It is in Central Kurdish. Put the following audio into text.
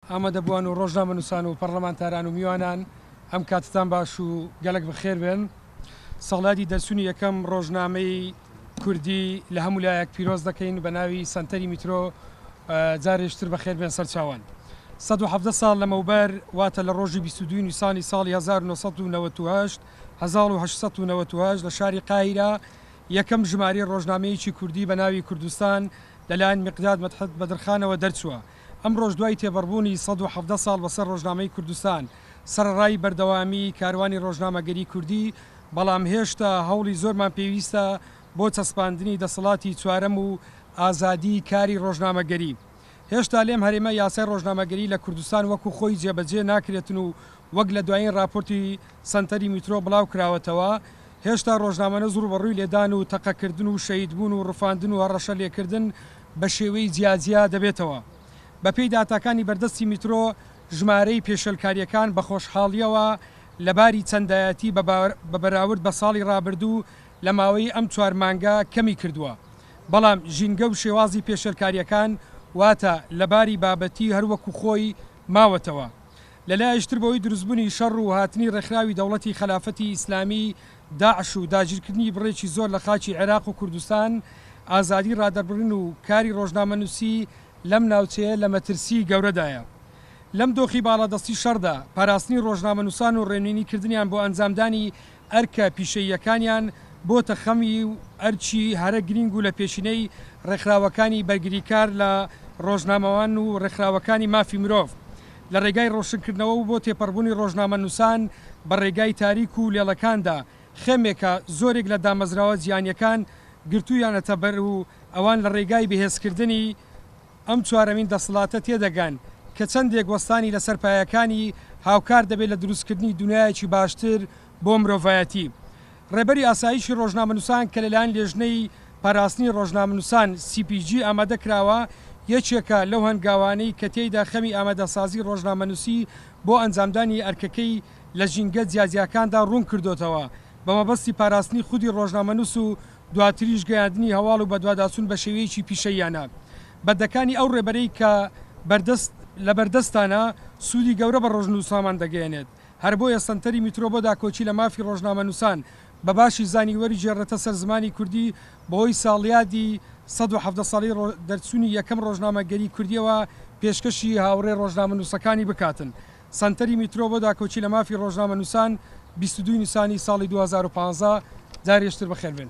ئامادەبووان و ڕۆژنامەنووسان و پەڕڵەمانتاران و میوانان ئەم کاتتان باش و گەلەک بەخێر بێن. ساڵیادی دەرچوونی یەکەم ڕۆژنامەی کوردی لە هەموو لایەک پیرۆز دەکەین بە ناوی سەنتەری میترۆ جارێ شتر بەخێر بێن سەرچاوان. سەد و حەڤدە ساڵ لەمەوبەر واتە لە ڕۆژی بیست و دوو نیسانی ساڵی هەزار و نۆ سەد و نەوەد و هەشت، هەزاڵ و هەشت سەد و نەوەد و هەشت، لە شاری قاهیرە یەکەم ژمارەی ڕۆژنامەیەکی کوردی بە ناوی کوردستان لە لایەن میقداد مەدحەت بەدرخانەوە دەرچووە. ئەمڕۆش دوای تێبەڕبوونی سەد و حەڤدە ساڵ بەسەر ڕۆژنامەی کوردستان، سەرەڕای بەردەوامیی کاروانی ڕۆژنامەگەریی کوردی، بەڵام هێشتا هەوڵی زۆرمان پێویستە بۆ چەسپاندنی دەسەڵاتی چوارەم و ئازادیی کاری ڕۆژنامەگەری. هێشتا لێم هەرێمە یاسای ڕۆژنامەگەری لە کوردستان وەکو خۆی جێبەجێ ناکرێتن و وەک لە دوایین ڕاپۆرتی، سەنتەری میترۆ بڵاوکراوەتەوە، هێشتا ڕۆژنامەنووس ڕووبەڕووی لێدان و تەقەکردن و شەهیدبوون و ڕفاندن و هەڕەشە لێکردن بە شێوەی جیاجیا دەبێتەوە. بەپێی داتاکانی بەردەستی میترۆ، ژمارەی پێشێلکارییەکان بە خۆشحاڵییەوە لە باری چەندایەتی بە بەراورد بە ساڵی ڕابردوو لە ماوەی ئەم چوار مانگە کەمی کردووە، بەڵام ژینگە و شێوازی پێشێلکارییەکان واتە لە باری بابەتی هەروەکو خۆی ماوەتەوە. لە لایەکی تر بەهۆی دروستبونی شەڕ و هاتنی ڕێکخراوی دەوڵەتی خەلافەتی ئیسلامی، داعش، و داگیرکردنی بڕێکی زۆر لە خاکی عێراق و کوردستان، ئازادی ڕادەربڕین و کاری ڕۆژنامەنوسی لەم ناوچەیە لە مەترسی گەورەدایە. لەم دۆخی باڵادەستی شەڕدا، پاراستنی ڕۆژنامەنوسان و ڕێنوینی کردنیان بۆ ئەنجامدانی ئەرکە پیشەییەکانیان بۆتە خەمی و ئەرکی هەرە گرینگ و لە پێشینەی ڕێکخراوەکانی بەرگریکار لە ڕۆژنامەوان و ڕێکخراوەکانی مافی مرۆڤ لە ڕێگای ڕۆشنکردنەوە و بۆ تێپەڕبوونی ڕۆژنامەنووسان بە ڕێگای تاریک و لێڵەکاندا خێمێکە زۆرێک لە دامەزراوە جیهانیەکان گرتوویانەتەبەر و ئەوان لە ڕێگای بەهێزکردنی ئەم چوارەمین دەسڵاتە تێدەگەن کە چەندێک وەستانی لەسەر پایەکانی هاوکار دەبێت لە دروستکردنی دونیایەکی باشتر بۆ مرۆڤایەتی. ڕێبەری ئاسایشی ڕۆژنامەنووسان کە لەلایەن لێژنەی پاراستنی ڕۆژنامەنووسان، سی پی جی، ئامادە کراوە، یەکێکە لەو هەنگاوانەی کە تێیدا خەمی ئامادەسازی ڕۆژنامەنووسی بۆ ئەنجامدانی ئەرکەکەی لە ژینگە جیاجیاکاندا ڕوون کردۆتەوە بە مەبەستی پاراستنی خودی ڕۆژنامەنووس و دواتریش گەیاندنی هەواڵ و بەدواداچوون بە شێوەیەکی پیشەییانە بە دەکانی ئەو ڕێبەرەی کە بەردەست لەبەردەستانە سوودی گەورە بە ڕۆژنووسامان دەگەیەنێت، هەر بۆیە سەنتەری میترۆ بۆ داکۆکی لە مافی ڕۆژنامەنووسان بە باشی زانی وەریگێڕێتە سەر زمانی کوردی بەهۆی ساڵیادی سەد و حەڤدە ساڵی دەرچوونی یەکەم ڕۆژنامەگەری کوردییەوە پێشکەشی هاوڕێ ڕۆژنامەنووسەکانی بکاتن سەنتەری میترۆ بۆ داکۆکی لە مافی ڕۆژنامەنووسان بیست و دوو نیسانی ساڵی دوو هەزار و پازدە دارێژتر بەخێربێن.